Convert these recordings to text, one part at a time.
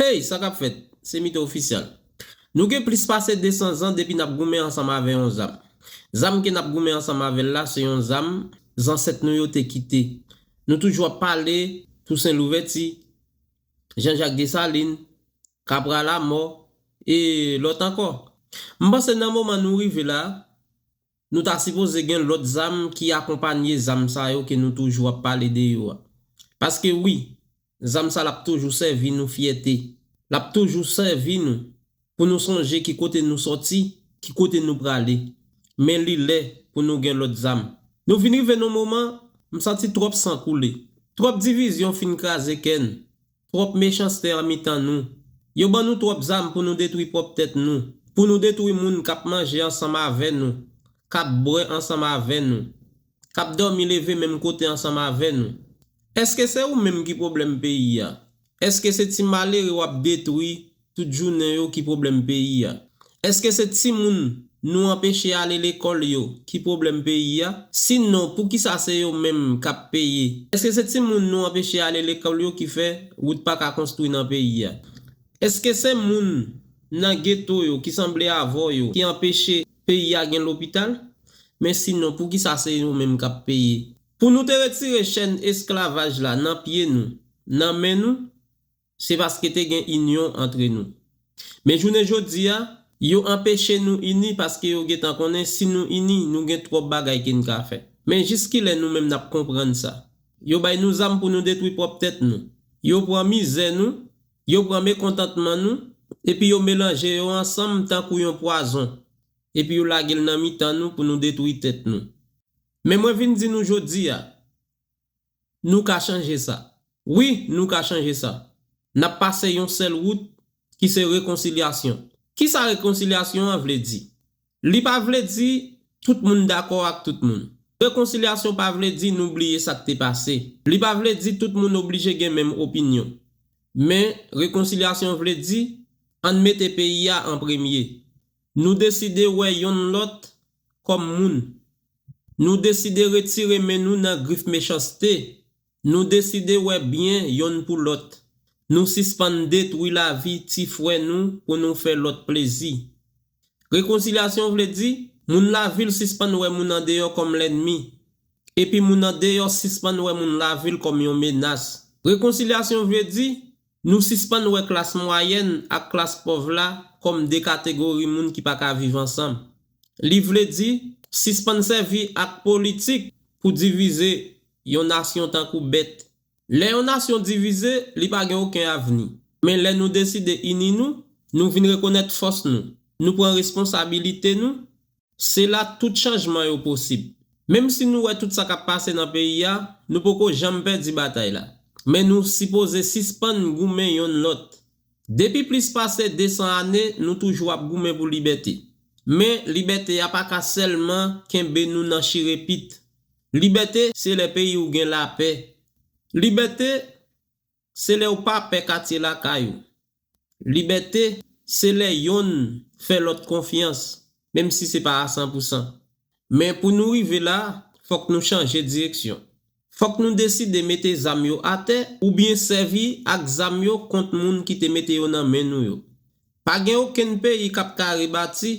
Hey! Sa kap fèt? Se Mito Official. Nou gen plis pase 200 zan depi nap goumen ansanm avè yon zam. Zam ke nap goumen ansanm avèl la se yon zam zansèt nou yo te kite. Nou toujou ap pale Tousen Louvèti, Jan Jak Desalin, Kapra Lamò e lòt ankò. M panse nan moman nou rive la, Nou ta sipoze gen lòt zam ki akonpanye zam sa yo ke nou toujou ap pale de yo a. Paske wi, zam sa l ap toujou sèvi nou fyète. L ap toujou sèvi nou pou nou sonje ki kote nou sòti, ki kote nou prale. Men li lè pou nou gen lòt zam. Nou vin rive nan moman, m santi twòp san koule. Twòp divizyon fin kraze kè n. Twòp mechanste an mitan nou. Yo ban nou twòp zam pou nou detwi pwòp tèt nou, pou nou detwi moun k ap manje ansanm avè nou, k ap bwè ansanm avè nou, k ap dòmi leve menm kote ansanm avè nou. Èske se ou menm ki pwoblèm peyi a? Èske se ti malere w ap detwi Tout jounen yo ki pwoblèm peyi a. Eske se timoun Nou anpeche ale lekòl yo ki pwoblèm peyi a? Si non poukisa se yo menm kap peye? Eske se timoun Nou anpeche ale lekòl yo ki fè wout paka konstwi nan peyi a? Eske se moun Nan geto yo ki sanble avw yo ki anpeche peyi a gen lopital? Men si non poukisa se yo menm kap peye? Pou Nou te retire chèn esklavaj la nan pye Nou, nan men Nou? Se paske te gen inyon antre nou. Men jounen jodi a, yo anpeche nou ini paske yo gentan konnen si nou ini, nou gen twòp bagay ke n ka fè. Men jiskilè nou menm n ap konprann sa? Yo bay nou zam pou nou detwi pwòp tèt nou. Yo pran mizè nou, yo pran mekontantman nou, epi yo melanje yo ansanm tankou yon pwazon, epi yo lage l nan mitan nou pou nou detwi tèt nou. Men mwen vin di nou jodi a, Nou ka chanje sa. Wi, nou ka chanje sa. N ap pase yon sèl wout, ki se rekonsilyasyon. Ki sa rekonsilyasyon an vle di? Li pa vle di tout moun dakò ak tout moun. Rekonsilyasyon pa vle di nou bliye sa k te pase. Li pa vle di tout moun oblije gen menm opinyon. Men, rekonsilyasyon vle di, ann mete peyi a an premye. Nou deside wè yonn lòt kòm moun. Nou deside retire men nou nan grif mechanste. Nou deside wè byen yonn pou lòt. Nou sispann detwi lavi ti frè nou pou nou fè lòt plezi. Rekonsilyasyon vle di, moun lavil sispann wè moun andeyò kòm lènmi, epi moun andeyò sispann wè moun lavil kòm yon menas. Rekonsilyasyon vle di, Nou sispann wè klas mwayèn ak klas pòv la kòm de kategori moun ki pa ka viv ansanm. Li vle di, sispann sèvi ak politik pou divize yon nasyon tankou bèt. Lè yon nasyon divize, li pa gen oken avni. Men lè nou deside ini nou, nou vin rekonèt fòs nou, nou pran responsabilite nou, Se la tout chanjman yo posib. Menm si nou wè tout sa k ap pase nan peyi a, nou poko janm pèdi batay la. Men nou sipoze sispann goumen yonn lòt. Depi plis pase 200 ane, nou toujou ap goumen pou libète. Men, libète a pa ka sèlman kenbe nou nan chire pit. Libète, se lè peyi w gen lapè. Libète. Se lè ou pa pè katye lakay ou. Libète, se lè yonn fè lòt konfyans, menm si se pa a san pou san. Men pou nou rive la, fòk nou chanje direksyon. Fòk nou deside mete zam yo atè oubyen sèvi ak zam yo kont moun ki te mete yo nan men nou yo. Pa gen okenn peyi k ap ka rebati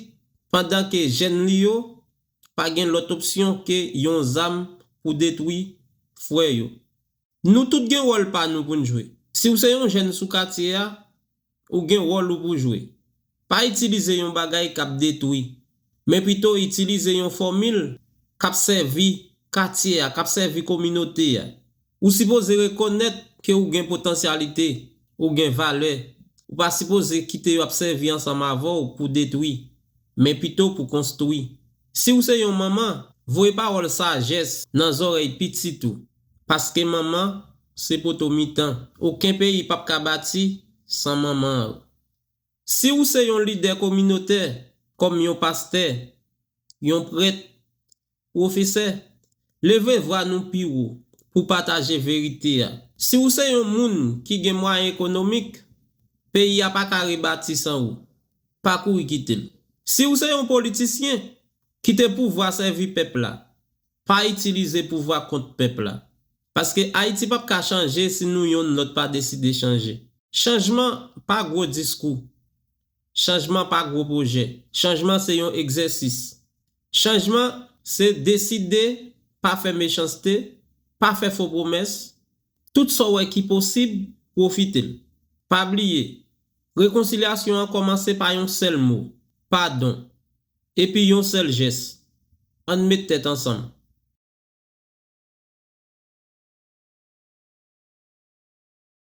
pandan ke jèn li yo pa gen lòt opsyon ke yon zam pou detwi frè yo. Nou tout gen wòl pa nou pou n jwe. Si w se yon jèn sou katye a, ou gen wòl ou pou jwe. Pa itilize yon bagay k ap detwi, men pito itilize yon fòmil k ap sèvi katye a, k ap sèvi kominote a. Ou sipoze rekonèt ke ou gen potansyalite, ou gen valè. Ou pa sipoze kite yo ap sèvi ansanm avè w pou detwi, men pito pou konstwi. Si w se yon manman, voye pawòl sajès nan zòrèy pitit ou. Paske manman se poto mitan. Oken peyi pap ka bati san manman l. Si ou se yon lidè kominotè, kòm yon pastè, yon prèt, pwofesè, leve vwa nou pi wo pou pataje verite a. Si ou se yon moun ki gen mwayen ekonomik, peyi a pa ka rebati san ou. Pa kouri kite l. Si ou se yon politisyen, kite pouvwa sèvi pèp la. pa itilize pouvwa kont pèp la. Paske Ayiti pap ka chanje si nou yonn lòt pa deside chanje. Chanjman pa gwo diskou. Chanjman pa gwo pwojè. Chanjman se yon egzèsis. Chanjman se deside pa fè mechanste, pa fè fo pwomès, tout sa w wè ki posib, pwofite l. Pa bliye, rekonsilyasyon an kòmanse pa yon sèl mo, padon. Epi yon sèl jès. Ann met tèt ansanm.